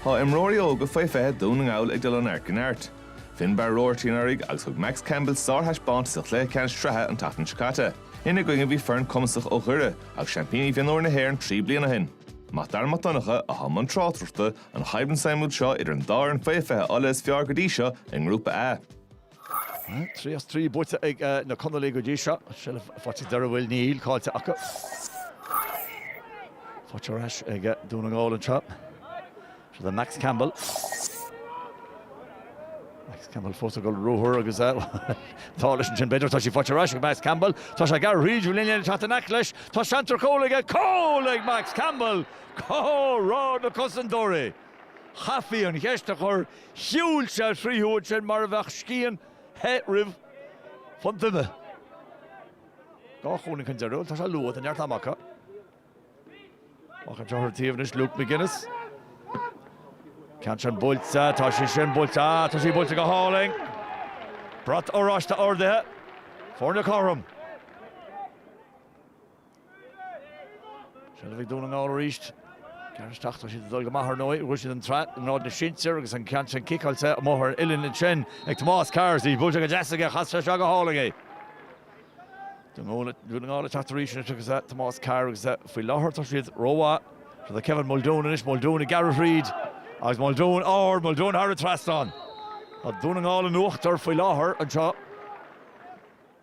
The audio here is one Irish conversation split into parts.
Tá imreoirí óga faoi 20 Dhún na nGall ag dul ó neart go neart. Finbarr Roarty anuraidh agus thug Max Campbell sárthaispeántas sa chluiche ceannais sraithe an tseachtain seo caite. Ina gcoinne bhí foireann cumasach ó Dhoire agus seaimpíní mhionúir na hÉireann trí bliana ó shin. Mac Dara Mac Donncha atá i mbun tráchtaireachta, an choimhlint suimiúil seo idir an dá fhoireann faoi 20 Ulaidh is fearr go dtí seo i nGrúpa A. Trí as trí buaite ag na Conallaigh go dtí seo. Seilbh faighte ag Doire, an bhfuil? Níl, caillte acu. Faighte ar ais ag Dún na nGall anseo. Seo do Max Campbell. Max Campbell fós ag dul ruathar agus calaois ansin b'fhéidir. Tá sí faighte ar ais ag Max Campbell. Tá sé ag gearradh thríd an líne le teacht in aice leis. Tá seans ar chúl aige. Cúl ag Max Campbell. Cá raibh na cosantóirí? Chaithfí an cheist a chur shiúil sé tríothu ansin mar a bheadh scian the thrí phunt ime. Dhá chúilín chun deiridh, tá sé luath, tá neart ama acu. Amach i dtreo an taobh anois, Luke McGuinness. Ceann sin buailte, tá sí sin buailte, ah, tá sí buailte go hálainn. Brat oráiste ardaithe, foirne cothrom. Seilbh ag Dún na nGall arís. Gearr isteach, tá siad ag dul go maith, ar ndóigh. Bhuaigh siad an tsraith i ngrád na sinsear agus an ceann sin ciceáilte amuigh ar uillinn ansin ag Tomás Carr, is í buailte go deas aige, chas sé isteach go hálainn é. Dún na nGall ag teacht arís anois agus Tomás Carr agus faoi láthair tá siad rómhaith. Seo do Kevin Muldoon anois, Muldoon ag gearradh thríd agus Muldoon ard, Muldoon thar an trasnán. Tá Dún na nGall in uachtar faoi láthair anseo.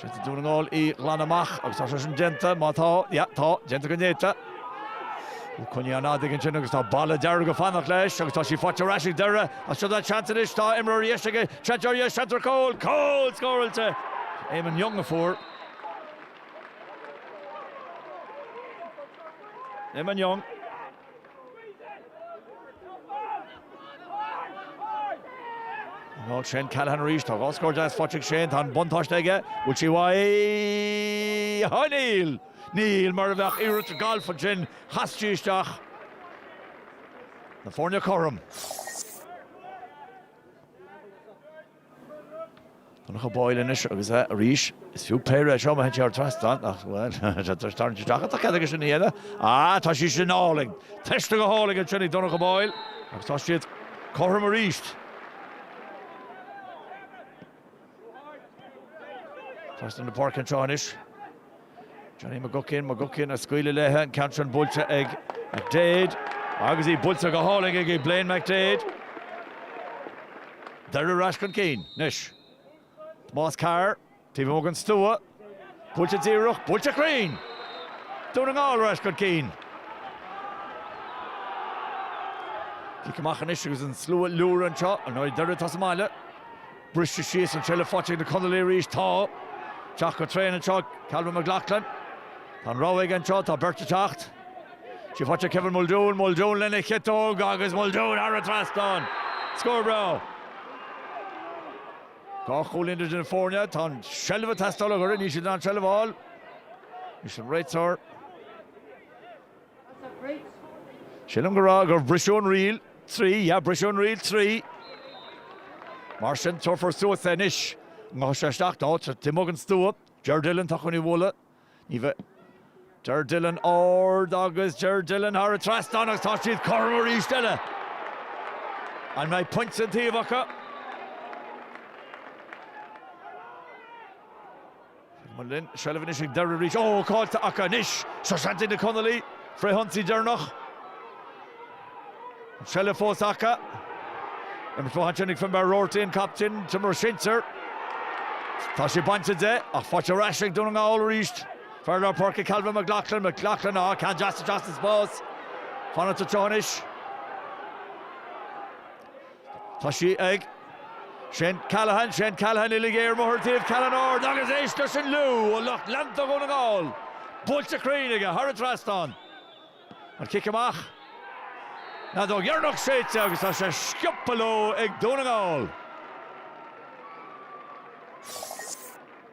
Seans ag Dún na nGall í a ghlanadh amach agus tá sé sin déanta, má tá, yeah, tá, déanta go néata. Bhí cuid den ádh aige ansin agus tá balla dearg ag fanacht leis agus tá sí faighte ar ais ag Doire ach seo dá seans anois, tá imreoir ar dheis aige, seans arís, seans ar chúl, cúl scóráilte! Eamon Young a fuair. Eamon Young. Ná Shane Callaghan arís, tá dhá scór deas faighte ag Shane, tá an buntáiste aige, bhfuil sí uaidh? Á níl! Níl, mar a bheadh iarracht gailf ansin, chas sí isteach na foirne cothrom. Donncha Boyle anois agus arís is fiú péire é seo má théann sí thar an trasnán, ach bhuel, tá sé tarraingthe isteach, tá cead aige sin a dhéanamh. Á, tá sí sin álainn! Teiste go hálainn ansin ag Donncha Boyle agus tá siad cothrom arís. Trasna na páirce anseo anois. Johnny McGuckian, McGuckian ag scaoileadh léithe, an ceann sin buailte ag McDaid agus í buailte go hálainn ag Blaine McDaid. Doire ar ais chun cinn anois. Tomás Carr, taobh amuigh den stua, buailte díreach, buailte cruinn! Dún na nGall ar ais chun cinn. Cic amach anois agus an slua ag liúradh anseo, ar ndóigh Doire atá sa mbaile. Briste síos an seilbh fáite ag na Conallaigh aríst. Teacht go tréan anseo Calvin McLaughlin. Tá an rogha aige anseo, tá beirt ag teacht. Tá sí fáite ag Kevin Muldoon, Muldoon lena chiotóg agus Muldoon thar an trasnán. Scór breá. Dhá chúilín idir na foirne, tá an seilbh ag teastáil ag Doire, níl siad in ann an seilbh a fháil. Anois an réiteoir. Sílim go raibh, gur briseadh an riail trí, yeah, briseadh an ríl trí. Mar sin, tabharfar suas é anois. Gabhfaidh sé isteach go dtí taobh amuigh den stua, Ger Dillon, tá chun i bhualadh, ní bheidh, Ger Dillon, ard agus Ger Dillon, thar an trasnán agus tá siad cothrom arís eile. An mbeidh pointe an taobh acu? Mullin, seilbh anois ag Doire arís. Ó, caillte acu anois! Seo seans ag na Conallaigh, frithionsaí deireanach. An seilbh fós acu. Imirt fúthu ansin ag Finbar Roarty, an captaen, an t-imreoir sinsir. Tá sé bainte de, ach fáite ar ais ag Dún na nGall arís. Fear lár páirce Calvin McLaughlin, McLaughlin, á, ceann deas isteach sa spás. Fanacht anseo anois. Tá sí ag Shane Callaghan, Shane Callaghan uilig ar bhóthar an taoibh, Callaghan, ard agus éist leis an liú ó lucht leanta Dhún na nGall. Buailte cruinn aige thar an trasnán. An cic amach an fheadóg dheireanach séidte agus tá sé sciobtha leo ag Dún na nGall.